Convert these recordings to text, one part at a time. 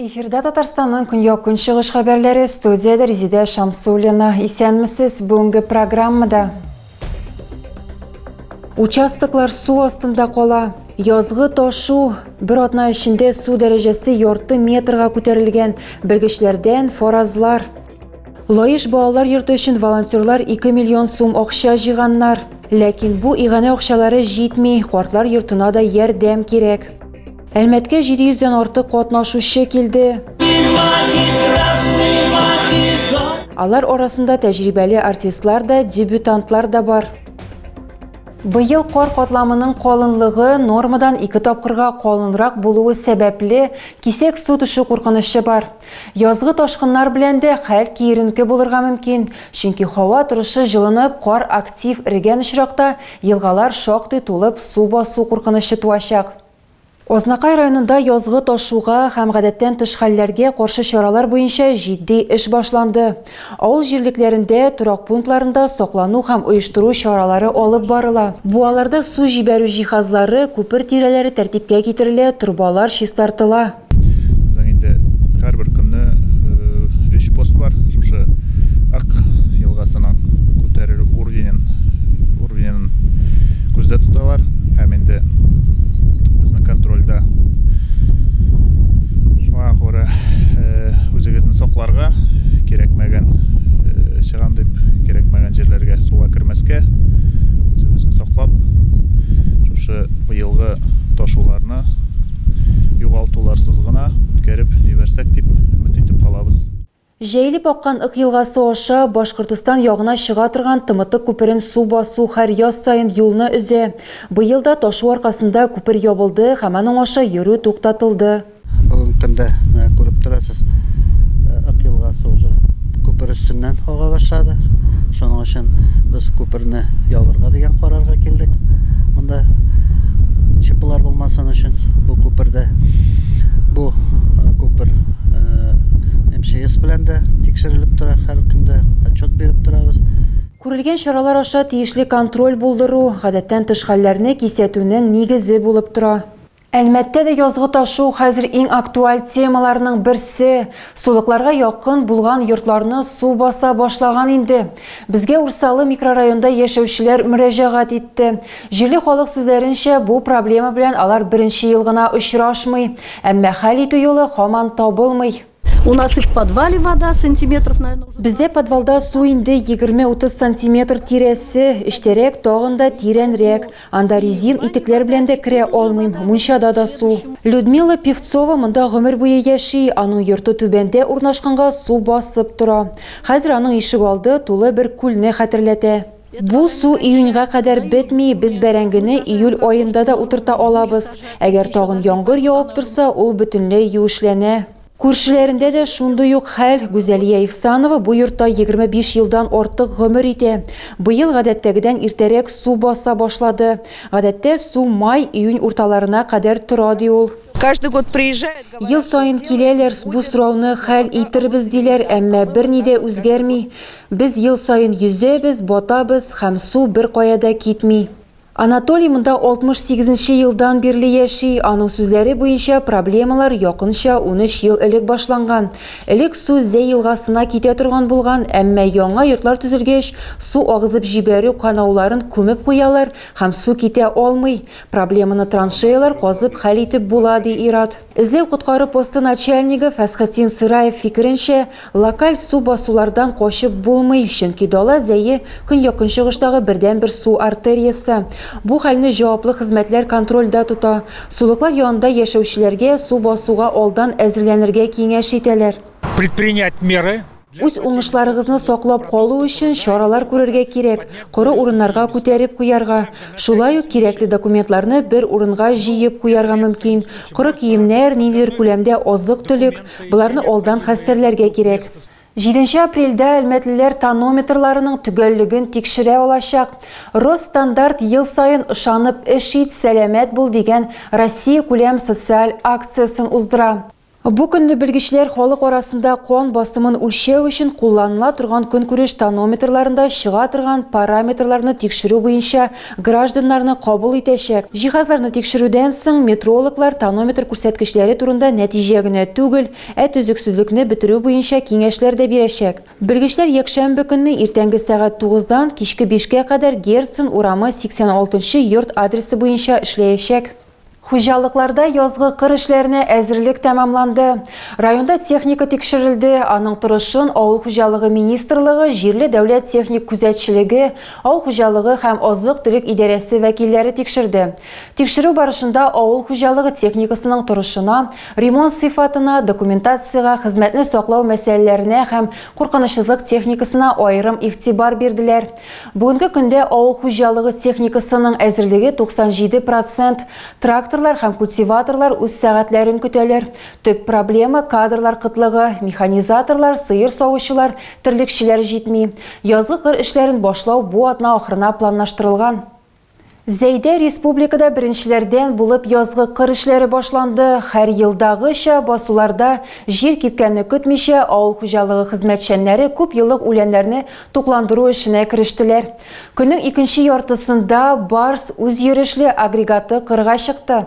Эфирда Татарстанның көньяк-көнчыгыш хәбәрләре студияда Резидә Шамсуллина. Исәнмесез, бүгенге программада Участоклар су астында кала. Язгы ташу бер атна эчендә су дәрәҗәсе ярты метрга күтәрелгән. Белгечләрдән фаразлар. Лаеш балалар йорты өчен волонтерлар 2 миллион сум акча җыйганнар. Ләкин бу иганә акчалары җитми, картлар йортына да ярдәм кирәк. Әлмәткә 700 дән артык катнашучы килде. Алар арасында тәҗрибәле артистлар да, дебютантлар да бар. Быел кар катламының калынлыгы нормадан ике тапкырга калынрак булуы сәбәпле, кисәк су төшү куркынычы бар. Язгы ташкыннар белән дә хәл киеренке булырга мөмкин, чөнки һава торышы җылынып, кар актив эрегән очракта, елгалар шактый тулып, су басу куркынычы туачак. Азнакай районында язгы ташуга һәм гадәттән тыш хәлләргә каршы чаралар буенча җитди эш башланды. Авыл җирлекләрендә, торак пунктларында саклану һәм оештыру чаралары алып барыла. Буаларда су җибәрү җиһазлары, күпер тирәләре тәртипкә китерелә, торбалар чистартыла. Безнең инде һәрбер көнне өч пост бар. Шушы Ак елгасының күтәрелү уровенен уровенен күздә тоталар һәм инде безнең контрольдә шуңа күрә үзегезне сакларга кирәкмәгән чыгам дип кирәкмәгән җирләргә суга кермәскә үзебезне саклап шушы быелгы ташуларны югалтуларсыз гына үткәреп җибәрсәк дип өмет итеп калабыз. Җәелеп аккан Ык елгасы аша Башкортостан ягына чыга торган Тымытык күперен су басу хәр яз саен юлны өзә. Быел да ташу аркасында күпер ябылды һәм аның аша йөрү туктатылды. Бүгенге көндә, менә күреп торасыз. Ак елгасы уже күпер өстеннән ага башлады. Шуның өчен без күперне ябырга дигән карарга килдек. Монда чипылар булмасын өчен бу күпердә бу э, күпер э, МЧС белән дә тикшерелеп тора һәр көндә отчет биреп торабыз. Күрелгән чаралар аша тиешле контроль булдыру, гадәттән тыш хәлләрне кисәтүнең нигезе булып тора. Әлмәттә дә язгы ташу хәзер иң актуаль темаларның берсе. Сулыкларга якын булган йортларны су баса башлаган инде. Безгә Урсалы микрорайонда яшәүчеләр мөрәҗәгать итте. Җирле халык сүзләренчә, бу проблема белән алар беренче ел гына очрашмый. Әмма хәл итү юлы һаман табылмый. У нас и в подвале вода сантиметров, наверное, уже... Бездә подвалда су инде 20-30 сантиметр тирәсе, эчтәрәк тагын да тирәнрәк. Анда резин итекләр белән дә керә алмыйм, мунчада да су. Людмила Певцова монда гомер буе яши, аның йорты түбәндә урнашканга су басып тора. Хәзер аның ишегалды тулы бер күлне хәтерләтә. Бу су июньгә кадәр бетми, без бәрәңгене июль аенда да утырта алабыз. Әгәр тагын яңгыр явып торса, ул бөтенләй юешләнә. Күршеләрендә дә шундый ук хәл. Гүзәлия Ихсанова бу йортта 25 елдан артык гомер итә. Быел гадәттәгедән иртәрәк су баса башлады. Гадәттә, су май, июнь урталарына кадәр тора, ди ул. Ел саен киләләр, бу сорауны хәл итербез, диләр, әмма берни дә үзгәрми. Без ел саен йөзәбез, батабыз һәм су беркая да китми. Анатолий монда 68 нче елдан бирле яши, аның сүзләре буенча, проблемалар якынча унөч ел элек башланган. Элек су Зәй елгасына китә торган булган, әмма яңа йортлар төзелгәч, су агызып җибәрү канауларын күмеп куялар һәм су китә алмый. Проблеманы траншеялар казып хәл итеп була, ди ир-ат. Эзләү-коткару посты начальнигы Фәсхетдин Сыраев фикеренчә, локаль су басулардан качып булмый, чөнки Дала Зәе, көньяк-көнчыгыштагы бердәнбер су артериясе. Бу хәлне җаваплы хезмәтләр контрольдә тота. Сулыклар янында яшәүчеләргә су басуга алдан әзерләнергә киңәш итәләр. Предпринять меры Үз уңышларыгызны саклап калу өчен чаралар күрергә кирәк, коры урыннарга күтәреп куярга. Шулай ук кирәкле документларны бер урынга җыеп куярга мөмкин. Коры киемнәр, ниндидер күләмдә азык-төлек, боларны алдан хәстәрләргә кирәк. Җиденче апрельдә әлмәтлеләр тонометрларының төгәллеген тикшерә алачак. Росстандарт ел саен Ышанып эш ит, сәламәт бул дигән Россиякүләм социаль акциясен уздыра. Бу көнне белгечләр халык арасында кан басымын үлчәү өчен кулланыла торган көнкүреш тонометрларында чыга торган параметрларны тикшерү буенча гражданнарны кабул итәчәк. Җиһазларны тикшерүдән соң метрологлар тонометр күрсәткечләре турында нәтиҗә генә түгел, ә төзексезлекне бетерү буенча киңәшләр дә бирәчәк. Белгечләр якшәмбе көнне иртәнге сәгать тугыздан кичке бишкә кадәр Герцен урамы 86 нчы йорт адресы буенча эшләячәк. Хуҗалыкларда язгы кыр эшләренә әзерлек тәмамланды. Районда техника тикшерелде, аның торышын авыл хуҗалыгы министрлыгы, җирле дәүләт техник күзәтчелеге, авыл хуҗалыгы һәм азык-төлек идарәсе вәкилләре тикшерде. Тикшерү барышында авыл хуҗалыгы техникасының торышына, ремонт сыйфатына, документациягә, хезмәтне саклау мәсьәләләренә һәм куркынычсызлык техникасына аерым игътибар бирделәр. Бүгенге көндә авыл хуҗалыгы техникасының әзерлеге 97 процент. Тракторлар һәм культиваторлар үз сәгатьләрен көтәләр. Төп проблема – кадрлар кытлыгы. Механизаторлар, сыер савучылар, терлекчеләр җитми. Язгы кыр эшләрен башлау бу атна ахырына планлаштырылган. Зәйдә республикада беренчеләрдән булып язгы кыр эшләре башланды. Һәр елдагыча басуларда җир кипкәнне көтмичә, авыл хуҗалыгы хезмәтчәннәре күп еллык үләннәрне тукландыру эшенә керештеләр. Көннең икенче яртысында Барс үзйөрешле агрегаты кырга чыкты.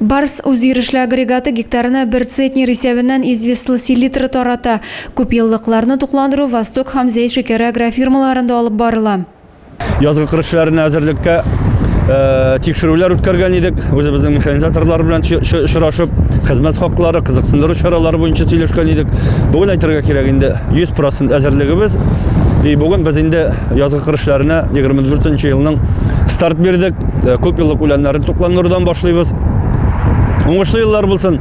Барс үзйөрешле агрегаты гектарына бер центнер исәбеннән известла селитры тарата. Күпьеллыкларны тукландыру Восток һәм Зәй шикәре агрофирмаларында алып барыла. Язгы кыр эшләренә әзерлеккә тикшерүләр үткәргән идек. Үзебезнең механизаторлар белән очрашып, хезмәт хаклары, кызыксындыру чаралары буенча сөйләшкән идек. Бүген әйтергә кирәк инде, 100 процент әзерлегебез. И бүген без инде Язгы кыр эшләренә 24 нче елның старт бирдек. Күп еллык үләннәрне тукландырудан башлыйбыз. Уңышлы еллар булсын!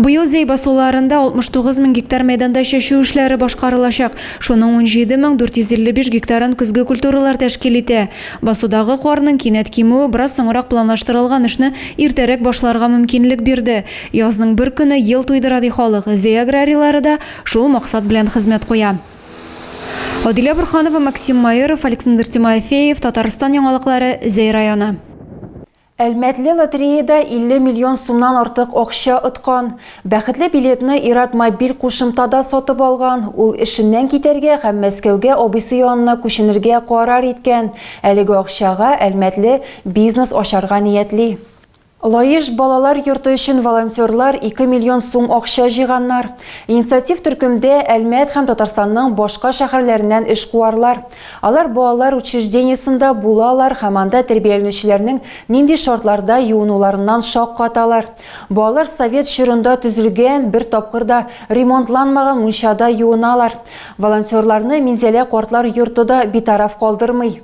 Быел Зәй басуларында 69 мең гектар мәйданда чәчү эшләре башкарылачак. Шуның 17 мең 455 гектарын көзге культуралар тәшкил итә. Басудагы карның кинәт кимүе бераз соңрак планлаштырылган эшне иртәрәк башларга мөмкинлек бирде. Язның бер көне ел туйдыра, ди халык, Зәй аграрийлары да шул максат белән хезмәт куя. Адилә Бурханова, Максим Майоров, Александр Тимофеев, Татарстан яңалыклары, Зәй районы. Әлмәтле лотереяда 50 миллион сумнан артык акча откан. Бәхетле билетны Ират мобиль кушымтада сатып алган. Ул эшеннән китәргә һәм Мәскәүгә абыйсы янына күченергә карар иткән. Әлеге акчага Әлмәтле бизнес ачарга ниятли. Лаеш балалар йорты өчен волонтерлар ике миллион сум акча җыйганнар. Инициатив төркемдә Әлмәт һәм Татарстанның башка шәһәрләреннән эшкуарлар. Алар балалар учреждениесендә булалар һәм анда тәрбияләнүчеләрнең нинди шартларда юынуларыннан шаккаталар. Балалар совет чорында төзелгән, бер тапкыр да ремонтланмаган мунчада юыналар. Волонтерларны Минзәлә картлар йорты да битараф калдырмый.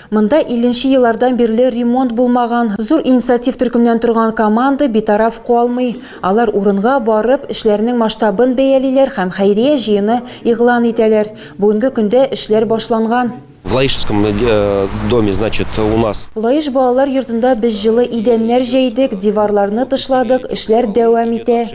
Монда илленче еллардан бирле ремонт булмаган, зур инициатив төркемнән торган команда битараф калмый. Алар урынга барып, эшләрнең масштабын бәялиләр һәм хәйрия җыены игълан итәләр. Бүгенге көндә эшләр башланган. В Лаишском доме, значит, у нас. Лаеш балалар йортында без җылы идәннәр җәйдек, диварларны тышладык, эшләр дәвам итә.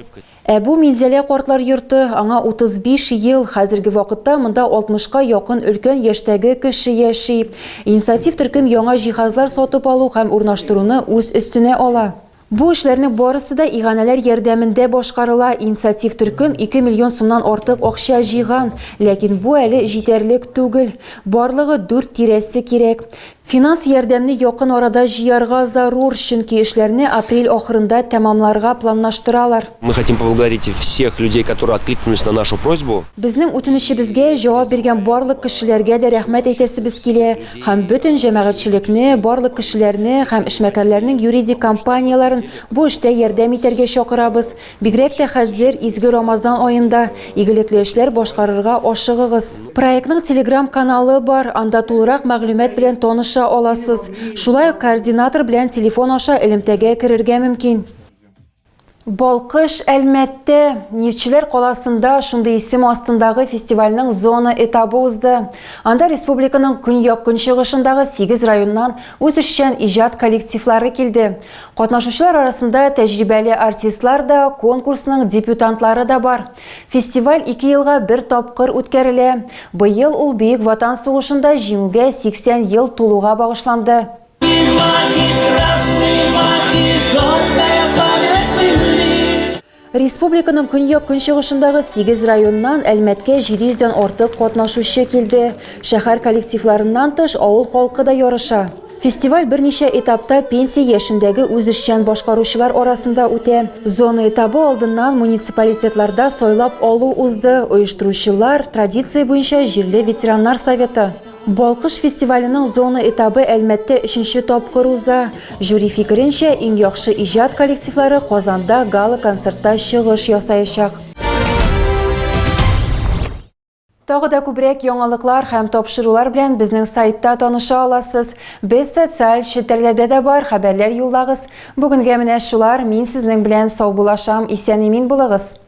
Ә бу, Минзәлә картлар йорты, аңа 35 ел, хәзерге вакытта монда 60 ка якын өлкән яшьтәге кеше яши. Инициатив төркем яңа җиһазлар сатып алу һәм урнаштыруны үз өстенә ала. Бу эшләрнең барысы да иганәләр ярдәмендә башкарыла, инициатив төркем 2 миллион сумнан артык акча җыйган, ләкин бу әле җитәрлек түгел, барлыгы дүрт тирәсе кирәк. Финанс ярдәмне якын арада җыярга зарур, чөнки эшләрне апрель ахырында тәмамларга планлаштыралар. Мы хотим поблагодарить всех людей, которые откликнулись на нашу просьбу. Безнең үтенечебезгә җавап биргән барлык кешеләргә дә рәхмәт әйтәсебез килә һәм бөтен җәмәгатьчелекне, барлык кешеләрне һәм эшмәкәрләрнең юридик компанияләрен бу эштә ярдәм итәргә чакырабыз. Бигрәк тә хәзер, изге Рамазан аенда, игелекле эшләр башкарырга ашыгыгыз. Проектның телеграм-каналы бар, анда тулырак мәгълүмат белән таныша аласыз. Шулай ук координатор белән телефон аша элемтәгә керергә мөмкин. Балкыш, Әлмәттә, Нефтьчеләр каласында шундый исем астындагы фестивальнең зона этабы узды. Анда республиканың көньяк-көнчыгышындагы сигез районнан үзешчән иҗат коллективлары килде. Катнашучылар арасында тәҗрибәле артистлар да, конкурсның дебютантлары да бар. Фестиваль ике елга бер тапкыр үткәрелә. Быел ул Бөек Ватан сугышында Җиңүгә 80 ел тулуга багышланды. Республиканың көньяк-көнчыгышындагы 8 районнан Әлмәткә 700 дән артык катнашучы килде. Шәһәр коллективларыннан тыш, авыл халкы да ярыша. Фестиваль берничә этапта пенсия яшендәге үзешчән башкаручылар арасында үтә. Зона этабы алдыннан муниципалитетларда сайлап алу узды, оештыручылар, традиция буенча җирле ветераннар советы. Балкыш фестиваленең зона этабы Әлмәттә өченче тапкыр уза. Жюри фикеренчә, иң яхшы иҗат коллективлары Казанда гала-концертта чыгыш ясаячак. Тагы да күбрәк яңалыклар һәм тапшырулар белән безнең сайтта таныша аласыз. Без социаль челтәрләрдә дә бар, хәбәрләр юллагыз. Бүгенгә менә шулар, мин сезнең белән саубулашам, исән-имин булыгыз!